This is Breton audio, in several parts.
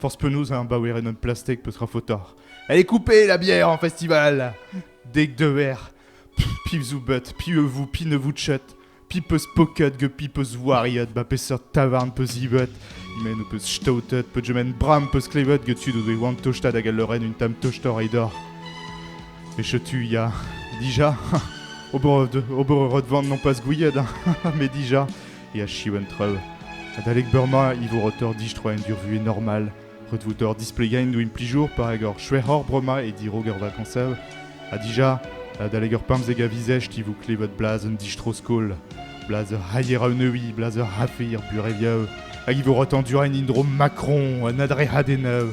Force penaos un baouerenn en plastek peut sera fautard. Elle est coupée la bière en festival Deg de verre. Pivzou but, pieux-vous, pinne-vous chet. Pipeus pocket ge pipeus wariot, ba peseurt tavarn peus ibet. Men peus stautet, pe gemen bram peus klevet get tud ouzh oan tostat hag a loren un tam tostor e dor. E chetu ya, dija, ober de, ober de van non pas gouiet, mais dija, e achiv an traoù. Adalek beurmañ e vo reutoc'h distroañ en durvuhez normal, retvotoc'h displegañ en implijour par ur chwec'hoc'h bremañ e dirak ur vakansav, ha dija, adalek ur pemzek a vizesht e vo klevet blaz un distro-skol, blaz ur c'haier-aoneoui, blaz ur c'hafe er bureviav, hag e vo retañ du en indro Macron, un adrec'hadennañ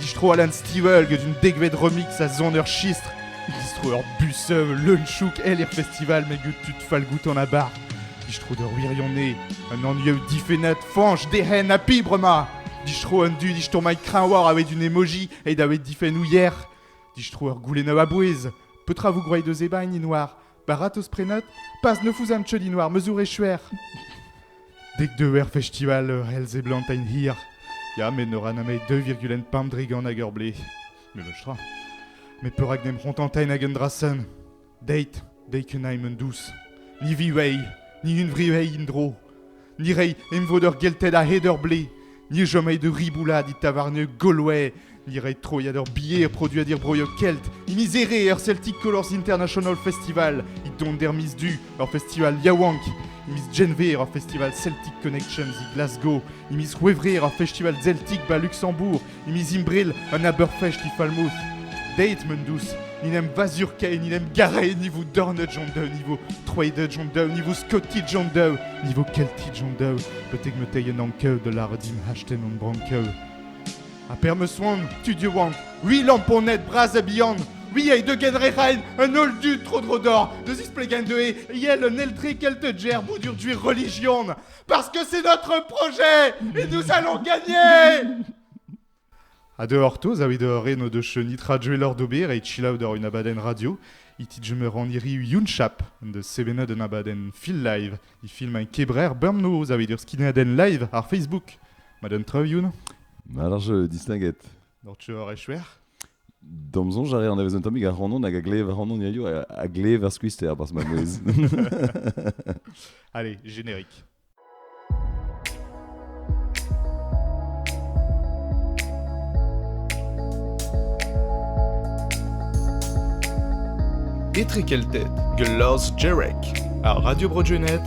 Distro Alan Stilwell get un dekvet remix a son ur chistr. Distro ur busev leun-chouk el er festival met get tud falgout an abar. Distro d'ur wirionez, un anvioù difennet Fanch d'ehen ha pibrema. Distro un du disturmailh kreñwar avait une emoji et davait difennoù hier. Distro ur goulennoù a-bouez. Petra vous croyez de Zebagni noir Baradoz-prenot, pas ne fouzam cheudin war mezour echuer. Dek deuer festival ur hel seblantain hir. Ya, met ne ra nameit 2,5 drigant hag ur ble. Meloch tra. Met perak n'em c'hontantain hag un drasen? Deit, deit que naim un dous. Ni viwei, ni unvriwei in dro. Ni rei emvod eur gelted a-hed eur blez. Ni chomait da ribouladiñ tavarnioù Galway. Ni rei troiad ur bier produet er broioù kelt. Mizere er Celtic Colors International Festival. It dont er miz du, ur festival yaouank. Miz Genver, ur festival Celtic Connections e Glasgow. Miz C'hwevrer, ur festival Celtic ba Luxembourg. Eme Zimbril, un abeurfech difalmous. Deit, m'en dous, n'en em vazur ken, n'en em garez ni vo dornet John Doe, ni vo troidet John Doe, ni vo skotit John Doe, ni vo keltit John Doe, betek ma tei un ankev da lâret din hasten hon brankev. Ha per meus oan, tud yoan, ui lamponed bras ha bihan, ui ei deuget re raen, un holl du tro-dro d'or, da zisplegañ deuet, iel un eltre kelteger boudur duer religion, Parce que c'est notre projet et nous allons gagner A de hortoz a vid re no deus ni tra Joel Ordober e chilaou d'or un abadenn radio. Iti jumer an iri Yunchap de sevenad un abadenn fil live. I film un kebrer bemnoz a vid ur skineadenn live ar Facebook. Madame Trev, Youn Alors je distinguette. Doc'h tu ar echouer D'am sonj a reer anavezet un tammig ac'hanon hag a glev ac'hanon hiziv a, a glev ar skuizhter barzh ma mouezh. Allez, générique. Etre Kelted, Glas Jerek, ar Radio Bro-Junet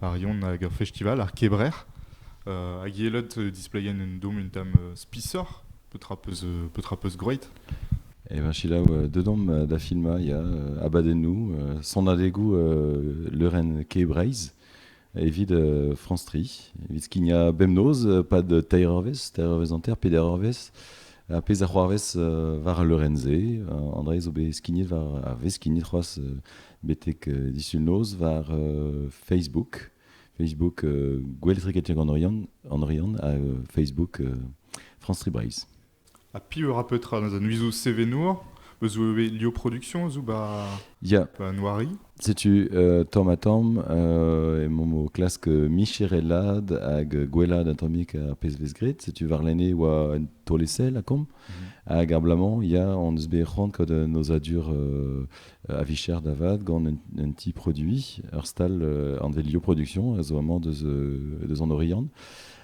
ar Yon hag ur festival, ar Kebrec'h, hag Yelod displeien un dom un tamm spisoc'h, petra peus, petra peus groeit Eh ben, selaou. Dedamp da filmañ, il y a Abadennoù, Sanadegoù leurenn Kebreiz, evit France Tri, evit skignañ bemnoz, pad teir eurvezh, teir eurvezh hanter, peder eurvezh, ha pezh a c'hoarvez war ar leurenn-se. Andrei zo bet skignet war, a vez skignet c'hoazh betek disul noz war Facebook. Facebook, gouelletriketier en Oriant, en Oriant ha Facebook France Tree Braise. A pi eur apetra dans un uizo sevenour eus Lio Productions ou ba, yeah. ba Noiri Setu euh, tamm ha tamm euh, emomp o klask micherelad hag gwelad atomek ar pezh vez graet. Setu warlene oa un tolesel a komp. Hag abalamour, ya, hon eus bet c'hoant gant un nozadur a vicher da vat gant un, ti produit. Ur stal an Velio Production a zo amañ deus, deus an Oriant.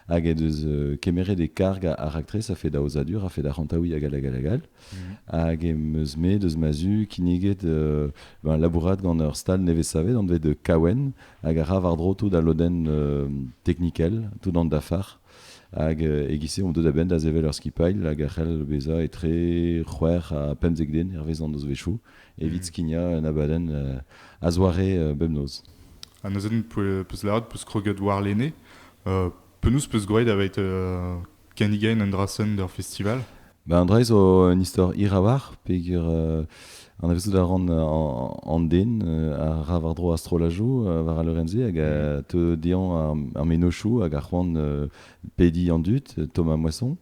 Hag e deus kemeret e karg a, raktres a fait d'aozadur, a fait da c'hantaouiñ hag hag hag Hag e meus me deus ma zu kinniget euh, ben, labourat gant ur stal nevez-savet, anvet de Kawen, hag a ra war-dro tout al lodenn euh, technikel, tout an dafar. Hag e-giz-se on deuet a-benn da sevel ur skipailh hag a c'hell bezañ etre c'hwec'h ha pemzek den hervez an nozvezhioù evit mhm. skignañ un abadenn a-zoare bemnoz. An abadenn peus lâret peus kroget warlene. penaos peus gwraet aveit kennigañ un dra-sen d'ur festival Ba, an dra-se zo un istor hiraouarc'h peger euh, anavezout a ran an, an den euh, a ra war-dro ar strollajoù euh, war al leurenn-se hag a teu dezhañ ar, ar mennozhioù hag ar c'hoant euh, pediñ an dud, euh, Thomas Moisson.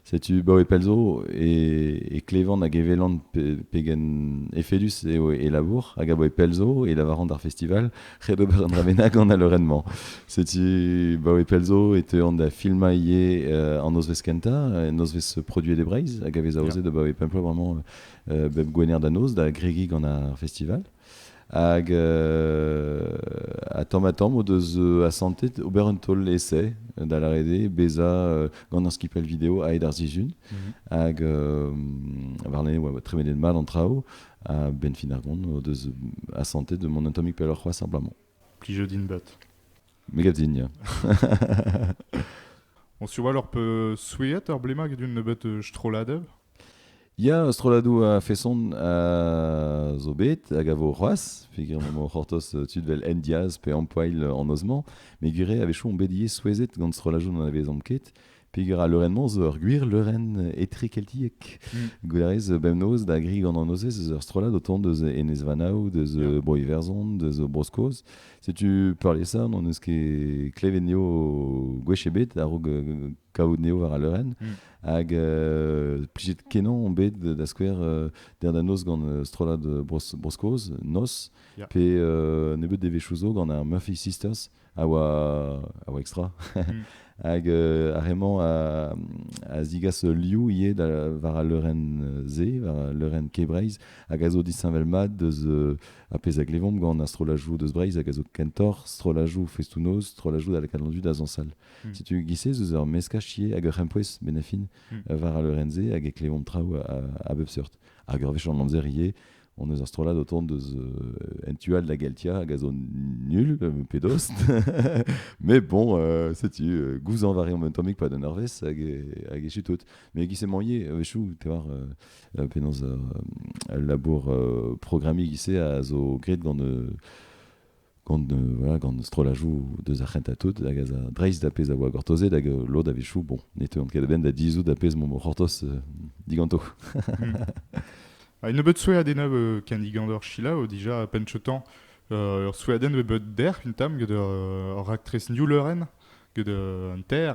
Setu Bao e Pelzo e, e klevan hag e welan pe, pegen efedus eo e labour hag a bo e Pelzo e lavaran d'ar festival ret ober un dra bennak gant al leurenn-mañ. Setu, ba e pelzo, e teuan da filmañ ivez euh, an nozvezh kentañ, nozvezh produet e Breizh, hag a vez aozet yeah. da ba e pemplo vraiment euh, bep gwener da noz, da gregi gant ar festival. Hag euh, a tamm a tamm o deus euh, asantet ober un taol essai da la rede, beza euh, gant ar skipel video aet ar zizun. Mhm. Hag euh, warne, ouais, tremenet mat an traoù. benfin ar gont o deus asantet mont un tammig pelloc'h c'hoazh simplement. Plijout din bat. Me gav din, On suit leur peut souhaiter ur blema get un nebeut euh, strolladev Ya, strolladou a feson a zo bet hag a vo c'hoazh, figure mo c'hortoz euh, tud vel en diaz pe ampoil euh, an ozmañ, me gure a-wechoù on bet ivez souezhet gant strollajoù n'an anavezomp ket, Peger a leurenn-mañ zo ur gwir leurenn etrekeltiek. Gwerez bemnoz da gri gant an nozez eus ur strollad o tont deus Enez-Vanav, deus Yeah. Bro-Iwerzhon, deus Bro-Skos. Setu peurliesañ n'hon eus ket klevet neo gwech ebet a-raok euh, kavout neo war al leurenn. Mm. Hag euh, plijet-kenañ on bet da skouer euh, der da noz gant euh, strollad euh, Bros- Bro-Skos, Nos, Yeah. pe euh, nebeut devezhioù zo gant ar Murphy Sisters, a oa, a oa extra. Mm. Hag euh, ar re-mañ a, a zigas liou ivez da, war al leurenn Z, war al leurenn K-Breizh, hag a zo disheñvel-mat deus euh, ar pezh a glevomp gant astrolajou deus Breizh, hag a zo kentor, strollajou festunoz, strollajou da lakaat landu da zañsal. Mm. Setu giz-se eus ur meskaj ivez hag ur c'hempouez benafin mm. war al leurenn Z, hag e klevomp traoù a, a bep seurt. Hag ur wech an amzer ivez, on eus ar strollad o tont eus en tu all da Geltia hag a zo nul pedos mais bon setu gouzañv a reomp un tammig pas d'un arvest hag hag echu tout mais qui s'est mangé chou te war penaos al labour programmiñ gise a zo graet gant gant voilà, gant strollajoù deus ar c'hentañ tout hag az a dreist da pezh a oa gortozet hag lod a-wechoù bon ne teuont ket a-benn da dizhout da pezh m'omp o c'hortoz diganto. Ha nebeut soueadennañ euh, ken digandor Shila dija pentchotan euh, ur soueadenn bet bet dec'h un tamm gant ur, ur raktres New Leuren gant un ter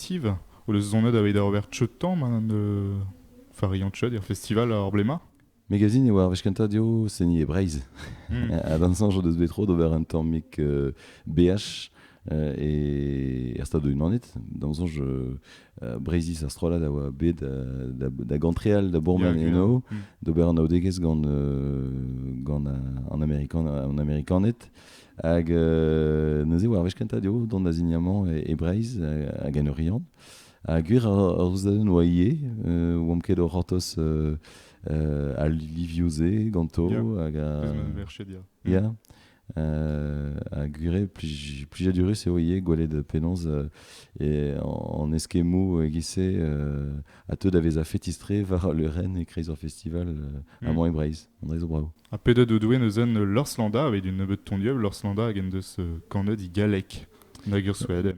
festive o deus sonet aveit ar ober cheutañ ma fariañ cheud er festival ar blema. Magazine e oa ar wech kentañ eo seni e Breizh. Hmm. Ha d'an soñj o deus bet tro d'ober un tammig uh, BH uh, e er Stadoù-Unanet. D'am soñj, uh, uh, Breizhiz ar strollad a oa bet da, da, gantreal da bourmen eno, hmm. d'ober anaoudegezh gant, uh, gant an, Amerikan, an Amerikaned. Hag neuze war wech kentañ eo dont da ziniamant e, e Breizh hag en Oriant. Ha gwir ar zeudenn oa ivez, oamp ket o c'hortoz al livioù-se ganto. Yeah. Hag, uh, yeah. Uh, ha gwir plijadurus eo ivez gwelet penaos e, an eskemmoù e-giz-se uh, a teu da vezañ fetistre war le Rennes e kreiz ar festival uh, mm. Amour et Breizh. On a zo bravo. Ha pedet out eo neuze eus Lorslanda evit un nebeud tondieu. Lorslanda hag en deus euh, kanet he galleg hag ur Sweden.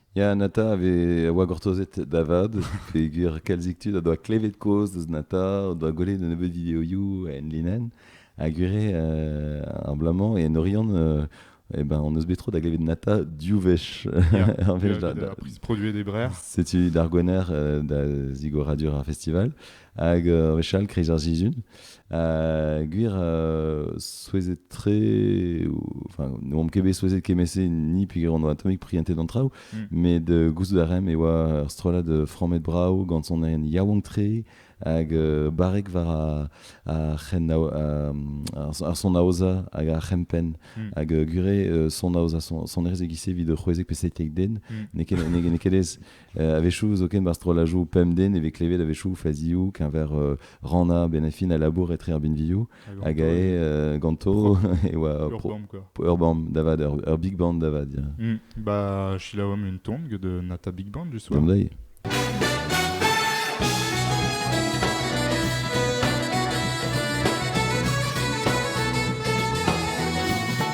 Ya, Nata a vez- a oa gortozet da vat, peger kalzik tud o doa klevet kozh deus Nata, o doa gwelet un nebeud videoioù en linenn, ha gwire euh, ar bloaz-mañ en Oriant euh, eh ben, on eus bet tro da glevet Nata div wech. Ya, Ur wech da- da- produit des brères. Setu d'ar gwener euh, da zigoradur ar festival. Hag euh, wechall, kriz ar sizhun. Euh, gwir, euh, souezhet tre, enfin, ne oamp ket bet souezhet kemese ni puger on oa tammig prientet d'an traoù, mm. mais de gouzout a rem e oa ur strollad framet brav gant son aen yaouank tre, hag euh, barrek war a, ar, c'hen, ar, son aoza hag ar c'hempen. Mm. Hag euh, gure euh, son aoza, son, son erz egise vid c'hwezek pe seitek den, mm. n'e ket ez A-wechoù, zoken war strollajoù pemp den e vez klevet a-wechoù fazioù keñver uh, Rana Benafin a labour etre ar binvioù hag ae uh, ganto e oa urbam, pro, urbam davad, ur, ur big band davad. Yeah. Mm. Ba silaouam un ton gant Nata Big Band du soir. Dai.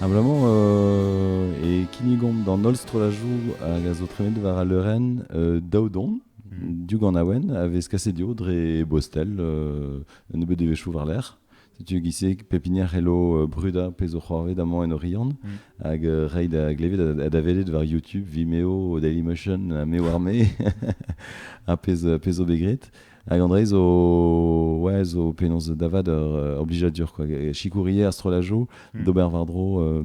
Abalamour e kinnigomp d'an holl strollajoù hag a zo tremenet war al leurenn daout on div ganaouenn a vez kaset eo dre Bostel, un nebeud devezhioù war-lerc'h. Setu giz-se pep hini a c'hello brudañ pezh zo c'hoarvet amañ en Oriant hag reiñ da glevet ha da welet war YouTube Vimeo, Dailymotion, ha me war me, ar pezh zo bet graet. Hag André zo, ouais, zo penaos da vat ur oblijadur quoi. Chicourier, astrolajo, hmm. d'ober vardro. Euh,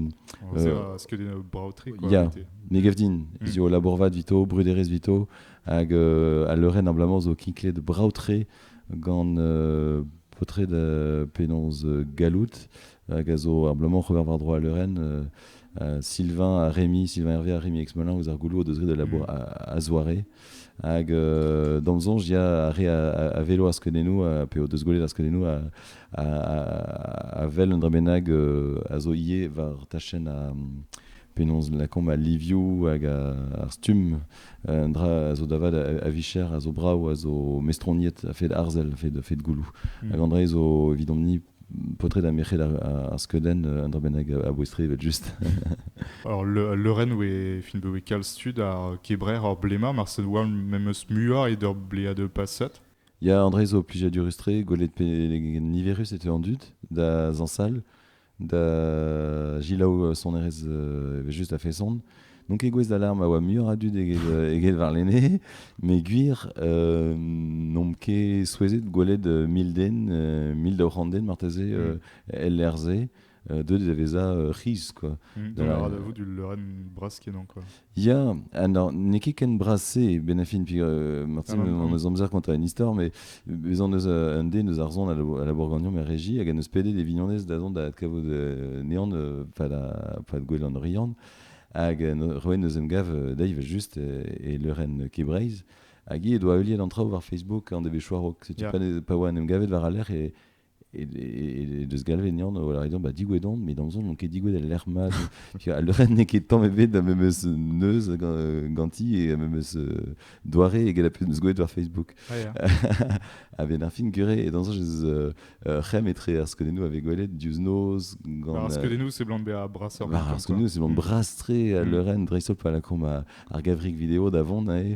euh, ce que des braoteries quoi. Yeah. Megevdin, hmm. zo labour vat vito, bruderez vito, hag euh, a leuren ablamour zo kinklet braotre gant euh, potred penaos gallout hag a zo abalamour war war-dro al leurenn. Sylvain ha Rémi, Sylvain Hervé ha Rémi Exmelin ouzh ar goulou o deus graet al labour mm. a, zoare. Hag euh, d'am sonj, il y a re a, vélo a skedennou, pe o deus gwelet a skedennou a, a, a, vel un dra bennak euh, a zo ivez war tachenn a, penaos lakaomp al livioù hag ar stumm un dra a zo da vat a, vicher a zo brav a zo mestroniet a-fed arzel a-fed gouloù mm. hag an dra zo evidomp-ni paotred ha merc'hed ar, skeudenn euh, un dra bennak a boestre evel just. Alors le, Leuren est film de Wikal stud ar Kebrer or Blema marcel war memes muar et der Blea de Passat. Il y a André zo plusieurs du rustre, Golet pe niverus était en dut, da Zansal, da gilaou sonerezh evel juste a feson. Donc egouez d'alarme a oa muioc'h a dud eget varlene, mais gwir euh, n'omp ket souezhet gwelet euh, mil den, euh, mil daou c'hant den marteze mm. LRZ, euh, de deveza euh, ris quoi. Mm. De la... de vous du Lorraine Braskenan quoi. Ya, ha non, n'eo ket ken bras-se ben a fin, piv, euh, Martin, Ah, on ah. eus amzer kontañ un istor, mais bez on eus euh, un den eus ar zon à la, à la Bourgagnon, ma régie, hag en eus pedet e vignonez da zont da adkavout euh, neon euh, pad, a- pad gouel an Oriant, hag euh, no- roet neus em gav euh, dezhi just euh, e leurenn Kebreiz, hag hi he doa heuliet an traoù war Facebook en devez choarok. Setu Yeah. pa, ne- pa oa en em gavet war al lec'h, e, e deus galvet nean o lâret ba digouet on met amzer n'on ket digouet el lec'h maz al leurenn n'eo ket tamm ebet da memes neuz ganti e memes doare eget a peus gwelet war Facebook a benn ar fin gure e dañs ez c'hemm etre ar skeudennoù a vez gwelet diouzh noz gant ar skeudennoù seblant bezañ brasoc'h ar skeudennoù seblant bras-tre al mm. leurenn dreist-holl pa lakaomp ar gavrig video da vont aze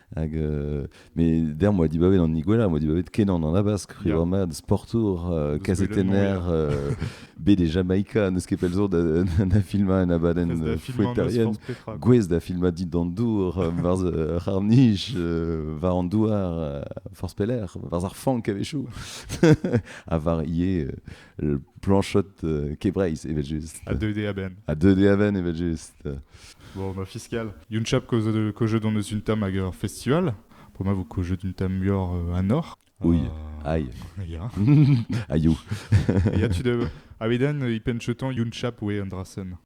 Hag, euh, mais d'ailleurs, moi, dibabet en Iguela, moi, dibabet Kenan en Abasque, Riverman, Sportour, euh, Casetener, euh, B des Jamaïca, Neuskepelzour, na filma en abaden fouettarienne, Gwez da filma dit d'Andour, varz Harnich, var Andouar, Force Peller, varz ar Fank avait chou, à var planchet euh, Kebreiz, evel just. A deuet a-benn. A deuet a-benn, evel just. Bon, ma fiscal. Yunchap Kojo don eus un tam hag ur festival. Pour moi, vous Kojo d'un tam ur euh, un or. Oui, euh, aïe. Ya. Ayou. Ya, tu de... Aviden, ipenchetan Yunchap we Andrasen.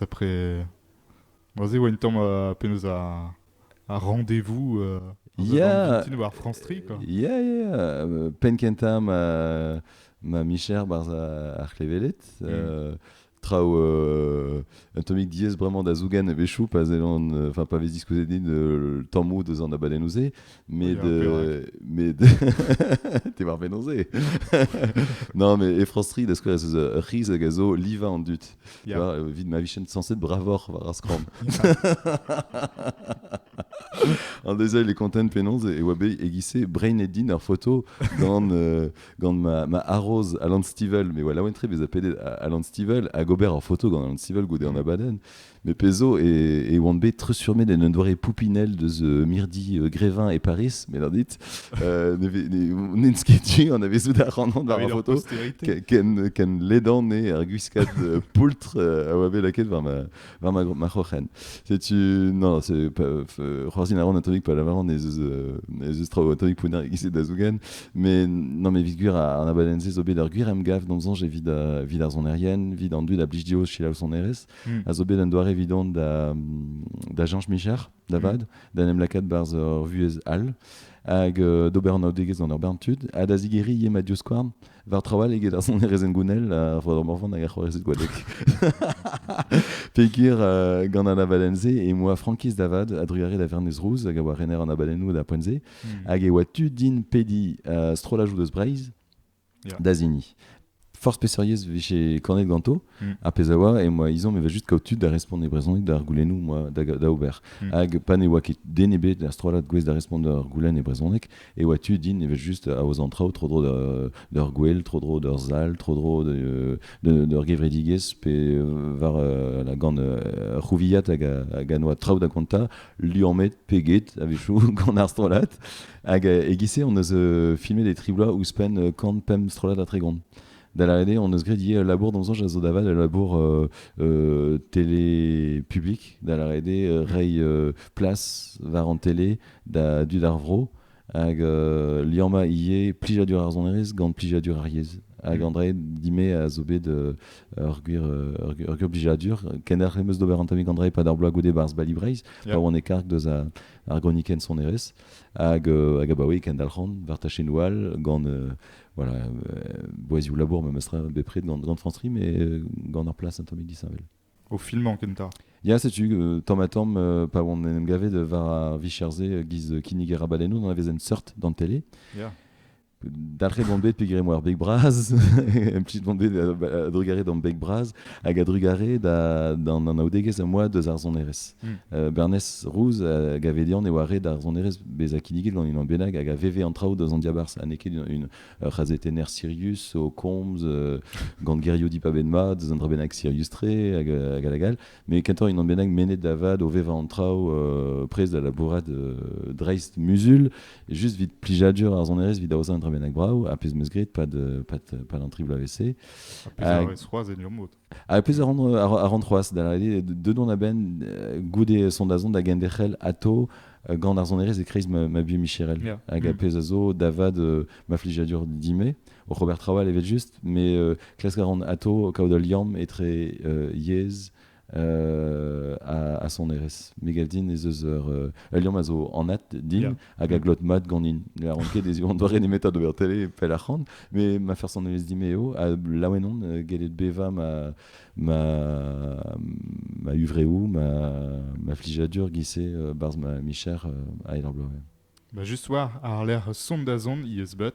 Après, vas-y, Wellington, euh, penaos ar, ar rendez-vous euh, yeah. voir France Tri, quoi. Yeah, yeah. Euh, Pen kenta ma, ma micher barz ar klevelet. Mm. Euh, traou euh, Atomic DS vraiment da zougan e bechou pa zelon enfin pa vez discuté din le temps mou deus an abaden ouzé Met, euh, mais t'es war penaos Non, mais Efros Reed, est-ce que ez eus Riz hag a zo liva an dut Vit ma vichen censed bravor war ar skram. An dezai les content penaos e oa bet egise Brain Edin ar photo gant, euh, gant ma, ma arroz Alan Stivell. Mais voilà, entre bez a pedet Alan Stivell hag ober ar photo gant Alan Stivell goude an abaden. Me pezo e, oan bet treuzfurmet en un doare poupinel deus mirdi Grevin e Paris, me dit. Euh, N'en sketché, on avait zout ar ranant war ar foto. Ken, ken ledan e ar gwiskad euh, poultr euh, a oa bet laket war ma, war ma, ma c'hroc'hen. Setu, non, c'est pas, c'hoarzin a ran atomique, pas lavaran ez eus, ez eus traoù atomique pounner e da zougen. Mais, non, mais vit gwir an abalense zo bet ar gwir em gav d'am zonj evit vid ar zonerienne, vid an dud a blij dio chilaou sonerez. hmm. a zo bet un doare evidon da, da Jean Micher, da hmm. vad, da en em lakaat barzh ur vuhez all, hag euh, d'ober anaoudegezh gant ur bern tud, ha da zigeri eo ma diouskouarn war trawal eget ar son erezen gounel a ro morvan hag ar c'hoarezed gwadek. Pegir euh, gant an abadenn-se e moa Frankiz Davad a druare da Vernez Rouz hag a oa rener an abadennoù da poent-se, hmm. hag e oa tu din pedi euh, strollajou deus Breizh da zini. Force peseuriez vije kanet ganto, mm. ar pez a oa, et moi, ils ont, me va juste kaout tud da respond e brezhoneg d'ar goulennou, moi, da, da ober. Mm. Hag pa ne oa ket den ebet ar strollad gouez da respond d'ar goulenn e brezhoneg, et oa tu din e va juste a oz an traou, tro dro d'ur gwel, tro dro d'ur sal, tro dro d'ur gevredigez, pe euh, war euh, la gant euh, rouvillat hag a, hag a noa traou da konta, liammet pe get a-wechoù gant ar strollad. Hag e-giz-se hon eus filmet e tri bloaz ouzhpenn kant pemp strollad a tregont. Da lâret eo, hon eus graet ivez labour d'am soñj a zo da vat, le labour euh, euh, télé public, da lâret eo, euh, reiñ place war an télé da dud ar vro. Hag euh, liamma ivez plijadur ar sonerezh gant plijadur ar yezh. Hag André Dimé a zo bet euh, ur gwir euh, ur, ur gwir blijadur. Kenner em eus d'ober un tammig André pad ar bloaz goude barzh Bali Breizh, yeah. pa oan e karg deus ar, ar gronikenn sonerezh. Hag, euh, hag abaoe kendalc'han war tachennoù all gant euh, voilà, euh, boazioù labour memes bepred gant, gant France Ri, mais euh, gant ur place un tammig disheñvel. Au filmañ kentañ. Ya, setu, euh, tamm-ha-tamm, euh, pa on en em gavet war ar vicherzhe euh, giz kinnig e rabalennoù, d'an vezen seurt d'an tele. Yeah. Dalc'he bombet pegwir emañ ar beg bras, un petit bombet a drugare d'an beg bras, hag a drugare d'an anaoudegezh a moa deus ar sonerezh. Mm. Uh, Bernez Rouz a gave dean e oa ret ar sonerezh bezañ kinniget gant unan bennak hag a veve an traoù deus an diabarzh, ha n'eo ket une, ur c'hazetenner Sirius o komz gant Geriodi Pabenmad eus un drabennak Sirius-tre hag hag hag mais kentoc'h un drabennak mennet da vat o vevañ an traoù prest da labourat dreist muzul juste vit plijadur ar sonerezh vit aozañ un drabennak brav ha pezh 'meus graet pad pad pad an tri bloavezh-se. Ha pezh a roez c'hoazh en ur mod. Ha pezh a ran, c'hoazh, da deuet on a-benn goude sondazon da genderc'hel atao gant ar sonerezh e-kreiz ma, ma buhez micherel. Hag a mm. pezh a zo da vat ma flijadur dimé. O Robert Trawal evel-just, mais euh, klask a ran atao kaout ul liamm etre euh, yezh euh, a, a sonerezh. Me gav din ez eus ur, ul liamm a zo anat din, hag a glot mat ganin. Ne lâran ket ez eo an doare nemetañ d'ober télé pell arc'hant, mais ma personelezh dit me eo, ha laouen on euh, gellet bevañ ma, ma, ma huvreo, ma, ma flijadur giz-se euh, barzh ma micher euh, a Aer ar Bloaz. Bah, juste war, ar lec'h sondazon he eus bet.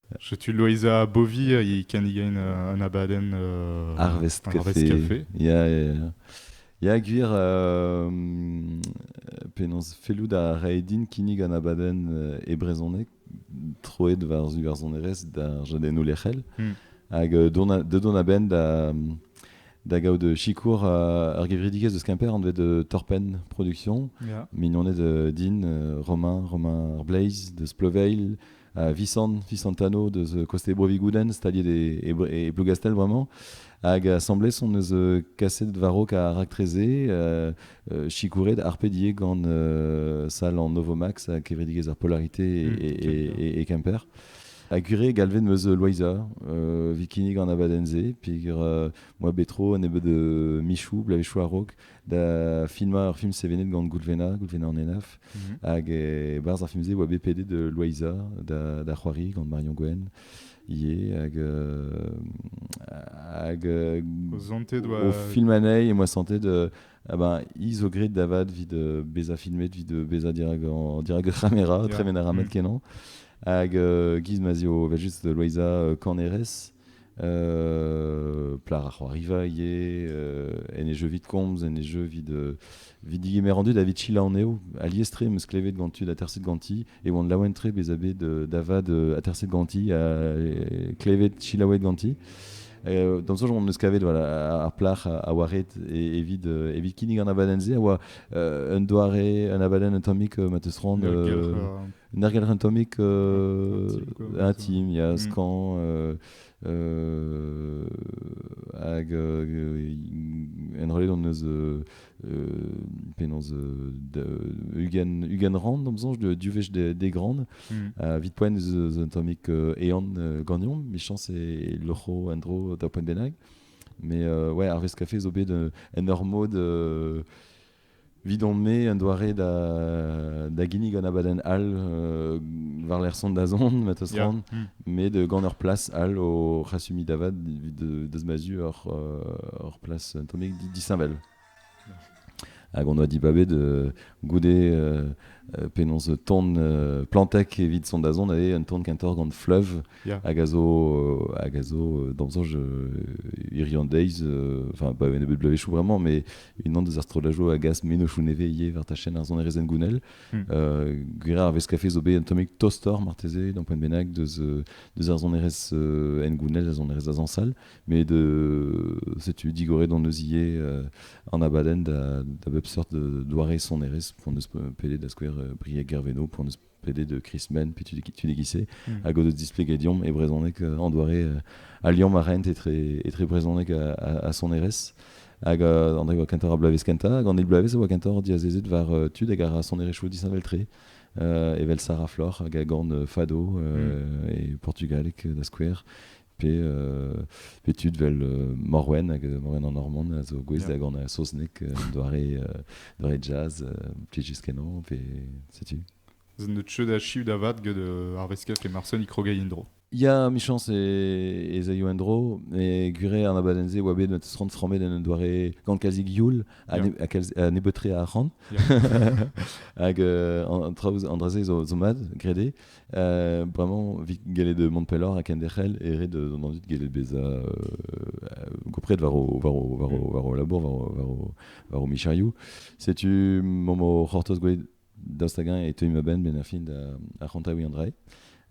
Setu Loeiza Beauvir e kinnigain euh, un abadenn euh, Harvest Café. Ya, ya, ya. Ya, gwir, euh, penaos, fellout a rae din kinnig an abadenn euh, e brezhoneg, troet war iwerzhonerezh d'ar jadennoù lec'hel. Hmm. Hag euh, dont a-benn da, da gaout sikour euh, ur gevredigezh eus Kemper anvet euh, Torpen Production. Yeah. Mignoned euh, din, euh, Romain, Romain Blaze de Sploveil, Visan, Visantano deus koste Bro-Vigoudenn, staliet e, e, e Blougastell vraiment. Hag asambles on eus kaset varok a raktreze euh, euh, sikouret arpedier gant euh, sal an Novomax a kevredigezh ar polarité et, mmh, et, et, Kemper. A gure galvet meus loiza, euh, vikinik an abadenze, pigr euh, moi betro nebeu de michou, blavechou arok, da filmañ ur film sevenet gant Goulvena, Goulvena en Enaf, mhm. hag e-barzh ar film-se e oa BPD de Loaiza da, c'hoari gant Marion Gwen ivez, hag, hag au film anei, et moi santé de ah ben, ils au grid d'avad vi de beza filmet, vi de beza dirag, en, dirag ramera, yeah. tremen a ramet mm. kenan. Hag euh, giz mazio, vel juste de Loiza, euh, Caneres, Plar ar c'hoariva en e jeu vid komz, en e jeu vid vid digemer an dud, a vid sila anezho. Alies-tre em eus klevet gant tud aterset ganti e oant laouen-tre bezañ bet da vad aterset ganti ha klevet selaouet ganti. D'am soñj on eus kavet ar plac'h a oa ret evit evit kinnig an abadenn-se a oa un doare, un abadenn un tammig ma 'teus c'hoant Nergal Atomic, un team, il y a mm. Scan, euh, hag euh, en relais on eus euh, penaos Ugan Ugan Rand am soñj du wech des, des grandes mm. uh, vit poen eus atomic eon gagnon michañs e locho endro da poen benag mais ouais Harvest Café zo bet en ur mod Evidon-me, un doare da, da ginnig un abadenn all euh, war-lerc'h son da zon, metos yeah. ran, mm. mais de gant ur place all o c'hasumi davad deus ma zu ur, euh, ur place atomique disheñvel. Hag on doit dibaber de goude euh, penaos ton plantek evit son da zon eo un ton kentor gant fleuve hag a zo hag a zo dans sens irlandeiz enfin pas un nebeu de blavezhioù vraiment mais unan des astrolajo a gas menochoù nevez ivez war tachenn ar sonerezhenn gounel gwir ar veskafe zo bet un tammig tostoc'h marteze d'un point bennak deus deus ar sonerezh en gounel ar sonerezh da zansal mais de setu digoret on eus ivez an abadenn da da bep seurt doare sonerezh pour ne se peler da skouer Brieg Gerveno pour ne PD de Chris Men, puis tu dis qui c'est, hmm. à cause de t'expliquer Dion et brezhoneg en doare. a Lyon ma rent etre, etre brezhoneg à son erez. Hag euh, an oa kentor a bloavez kenta, hag an eil bloavez oa kentor diazezet war euh, tud hag a ra sonerezhioù disheñveltre. Uh, evel Sarah Flor hag a gant Fado mm. et portugalek da skouer pe, tud vel Morwen, hag Morwen an Normand a zo gouest da gant a saozneg un doare, doare jazz, plijus kenañ, pe setu. Z'eus cheu da chiv da vat get ar veskers e Marsen ikrogei en-dro. Ya, amichañs ez aio en-dro, e gure an abadenn-se oa bet met ront framet en un doare gant kalzik youl ha nebeutre a arc'hant. Hag an traoù an dra-se zo mad, grede. Euh, vraiment, vit galet de Montpellor a kenderc'hel e red d'an dit galet beza euh, gopret war o war o war o war o labour war o war o michariou. Setu momo c'hortoz gwelet dastagan e teuy ma ben ben ar fin da ar c'hontaoui an drai.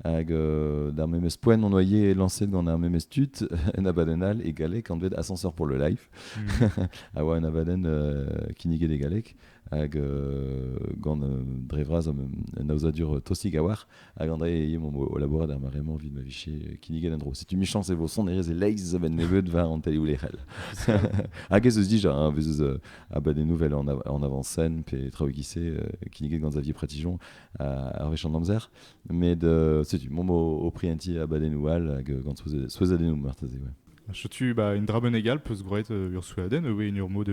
Hag euh, d'ar memes poen mon noyer lancé gant ar memes tut en abaden all e galek an dvet ascenseur pour le life. Mm. a oa un abaden euh, kinniget e galek hag gant dre vras un aozadur tostik a war hag an dae e o labourat ar mare-mañ evit ma vije kinniget en dro setu michañs e vo sonerezh e-leizh a nebeud war an télé ou les rel hag ez eus dija hein, ez eus abadennoù vel en, en avant-scène pe traoù gissé kinniget gant Xavier Pratigeon ar wech an amzer met setu mom o prienti abadennoù all hag gant souezhadennoù marteze ouais. Chotu bah, une draben égale peut se groit ur souaden, ewe une urmo de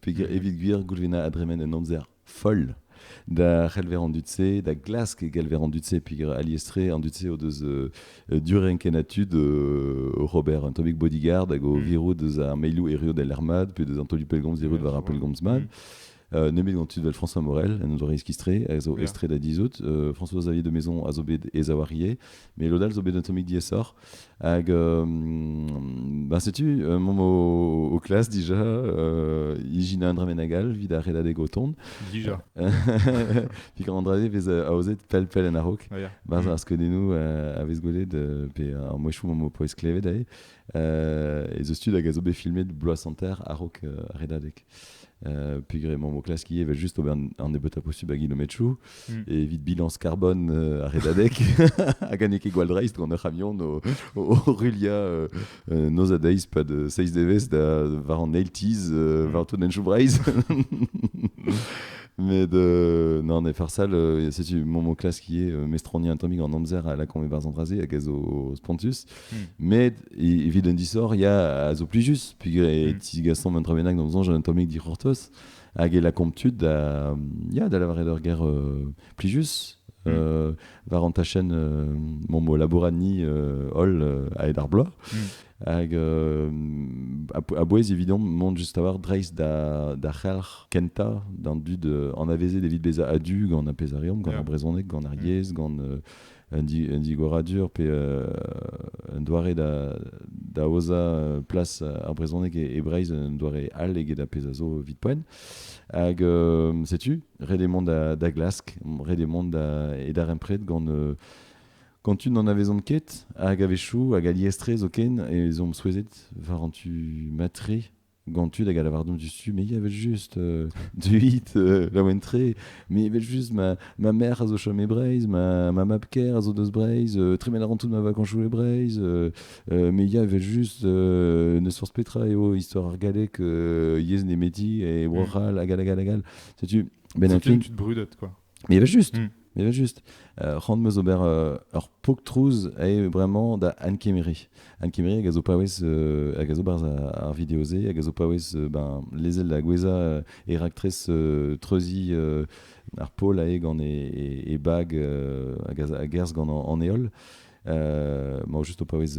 Peger evit gwir Goulvena a dremen un amzer foll da c'helver an dud-se, da glask e gelver an dud-se, peger aliestre an dud-se o deus euh, durenken a tud euh, Robert, un tammig bodyguard hag o mm. virout eus ar meilou erru del armad, puis deus an tolu pelgomz virout war ar pelgomz mad. Mm. Euh, nemet gant tud François Morel, en doa iskistre, a zo estre da dizout. Euh, François-Xavier de Maison a zo bet e zawarie, mais l'odal zo bet un tammig diessor. Hag ben setu mont au, au classe déjà euh, ijin un dremenagal vid ar redadeg o tont. Dija. Pi kan an drade vez aozet pell pell en arok. Oh, yeah. Barz ar skeudennou a vez gwelet pe ar mouechou m'am poez klevet ae. Euh, e zeus tud hag a zo bet filmet bloaz santer arok redadeg. Euh, pegre mon classe qui evel juste ober an ebeut a postu bag ilometchou. Hmm. Evit bilañs carbone euh, ar redadek, hag n'eo ket gwall-dreist gant ur c'hamion o, o, o rulia euh, euh, noz a deiz pad 6 devezh da war an eil tease euh, war tout en Choubreiz. Med euh, non, ne farsal, euh, c'est mon, mon classe qui est euh, mestroni atomique en amzer à la converse embrasée avec au Spontus. Hmm. Mais évident du sort, il y a à zo plus juste. Puis mm. ti gaston 23 dans un atomique dit hortos. hag e lakaomp tud da, ya, da lavaret ur ger plijus. Mm. Euh, war an tachenn euh, mon mot labourani euh, hol euh, a ed ar bloaz mm. hag euh, a bouez évident mont just avoir dreist da da c'helc'h kenta d'an dud euh, an avezet evit beza adu gant a pezh a reomp gant yeah. ar brezhoneg gant ar mm. yezh gant euh, un, digoradur pe un doare da, da aozañ place ar brezhoneg e, Breizh, un doare all eget a pezh a zo vite poen. Hag setu, ret eo mont da, da glask, ret eo mont da, e darempred gant quand tu n'en avezont ket, hag a-wechoù, hag alies-tre zoken, ez omp souezhet war an tu matre gant tud hag a lavar donc du mais evel-just euh, du hit euh, laouen-tre mais evel-just ma, ma mère a zo chom e Breizh ma, ma mab-ker a zo deus Breizh euh, tremel a ran toute ma vacances joue e Breizh euh, euh, mais ya evel-just euh, ne source petra eo histoire ar galleg euh, yezh nemeti et mm. Warhal hag hag hag hag setu ben un tu brudette quoi Mais juste, mm. mais juste. Euh, Rand meus ober euh, ur pok trouz ae bremañ da Anne Kemery. Anne Kemery hag a zo paouez euh, hag a zo barzh ar video-se hag a zo paouez euh, ben, lezel da goueza euh, e raktres euh, treuzi euh, ar pol ae gant e, e, e bag euh, hag a, a gerzh gant an, an heol. Moi, juste au paouez,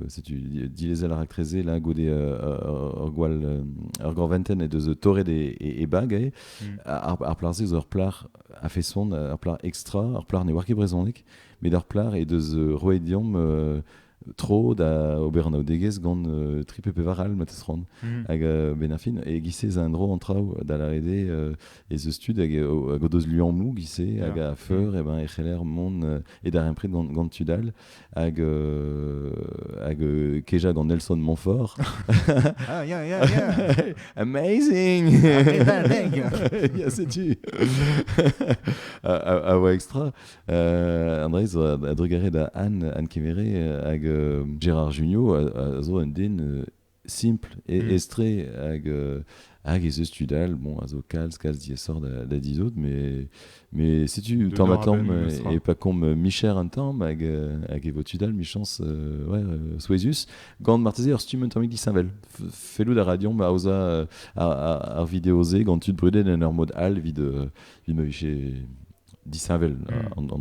si tu dilezel ar rakreze, là, goude ur gwal, ur gorventen et deus torret e, e, e bag, eh. mm. ar, ar plar se, ur plar a feson, ur plar extra, ur plar ne oar ket brezhoneg, met ur plar e deus roet diomp tro da ober anaoudegezh gant uh, tri pe pevar all matez ran mm. hag uh, ben fin e gise ez a un dro an traoù da larede uh, ez eus tud hag, hag o deus luammoù gise hag a feur mm. e ben e c'heller mont uh, e darempred gant, tud all hag, euh, hag euh, keja gant Nelson Montfort. ah, yeah, yeah, yeah. Amazing! yeah, c'est tu! a, voix extra, euh, Andrez a, drugaret da Anne, Anne Kemere hag Gérard Junior a, a zo un den simple et mm. estré hag euh, hag ez eus tud all bon a zo kalz kalz diaesoc'h da, da dizout mais mais si tu t'en et pas comme micher un temps hag euh, hag evo tud all michans euh, ouais euh, souezhus gant marteze ur stumm un tammig disheñvel fellout a ra deomp aozañ ar vidéosé gant tud brudet en ur mod all vit vit ma vije disheñvel mm. an, an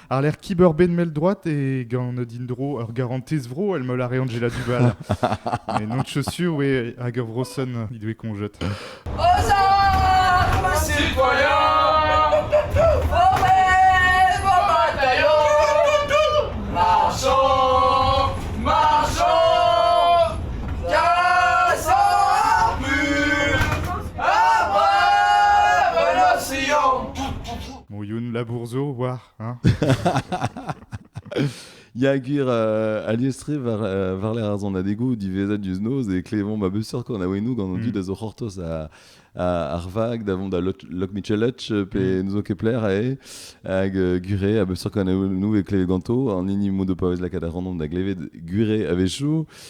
Àr-lerc'h kibeurbenn mell-droad e gant din-dro ur garantez-vro èl-mell a re Anjela Dubal. Mais non de chaussures, oui, hag ur vrosenn he doe koñjet. Moioun labour zo war, hein Ya gwir euh, aliestre war euh, varler ar zon adegou divezat diouz noz e klevomp a beuseur kon a wenou gant an dud mm. a zo c'hortoz a, ar vag da vont da Loch Michelech pe mm. n'zo ket pler ae hag euh, gure a beuseur kon a wenou e kleve ganto an hini mout de paouez lakaat a randomp da glevet gure a vechou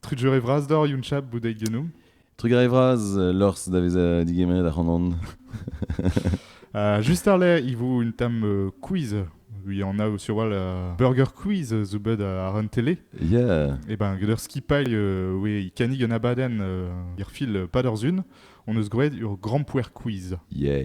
Trugarez vras deoc'h, Younchab, bout deit genou. Trugarez vras, euh, lors da vezañ digemeret ac'hanon. uh, just arle, i vo un tam euh, quiz. Il y en a sur wall uh, burger quiz zo bet ar un télé. Yeah. Et ben, geder skipailh, euh, oui, kanig un abadenn, uh, irfil pas d'ur zun. On eus gwred ur grand poer quiz. Yeah.